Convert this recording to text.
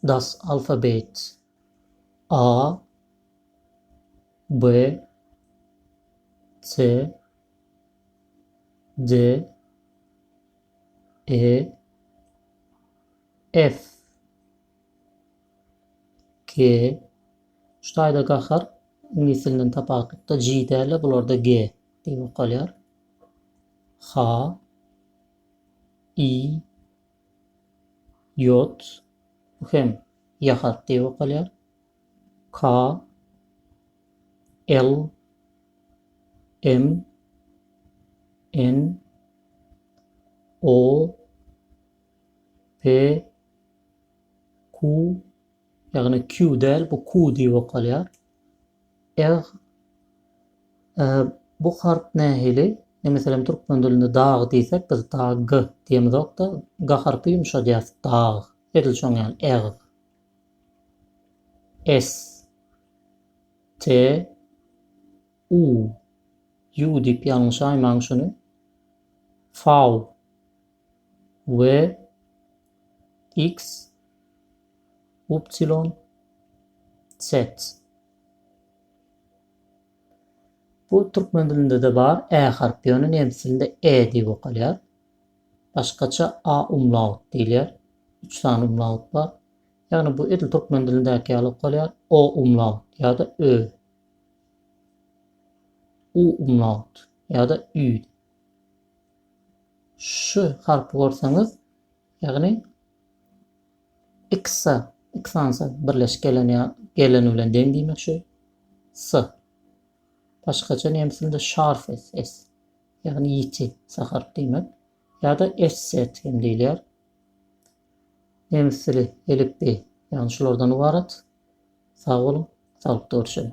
Das Alphabet A B C D E F G Şu taýda gahar iňlis dilinden tapaklykda G däl bularda G diýip okalýar. H I Ýod, bu hem ýahat diýip okalýar. Ka, el, em, en, o, pe, ku, ýagny kü däl, bu ku diýip okalýar. Eg. Ä. Bu harp nähili? Ine, meselem, türkmen dilinde dag diýsek, biz da g diýemizok-da, ga harpy ýumşadýarys, dag. Edil şoň ýaly, eg. S. T. U. Ýu diýip ýalňyşaýmaň şuny. Faw. We. X. Upsilon Sets. Bu türkmen dilinde-de bar ä harpy, ýöne nemes dilinde e diýip okalýar. Başgaça a umlaut diýilýär. Üç sany umlaut bar. Ýagny bu edil türkmen dilindäki ýaly okalýar, o umlaut ýa-da ö. U umlaut ýa-da ü. Şu harpy görseňiz, Ýagny x-a, x-ansa birleşik gelen ýa geleni bilen deň diýmek şu s. Başgaça nemes dilinde şarf s, s. Ýagny ýiti, saharp diýmek. Ýa-da s-set hem diýilýär. Nemes dili, elipbiý, ýagny şulardan ybarat. Sag boluň, saglykda görüşeliň.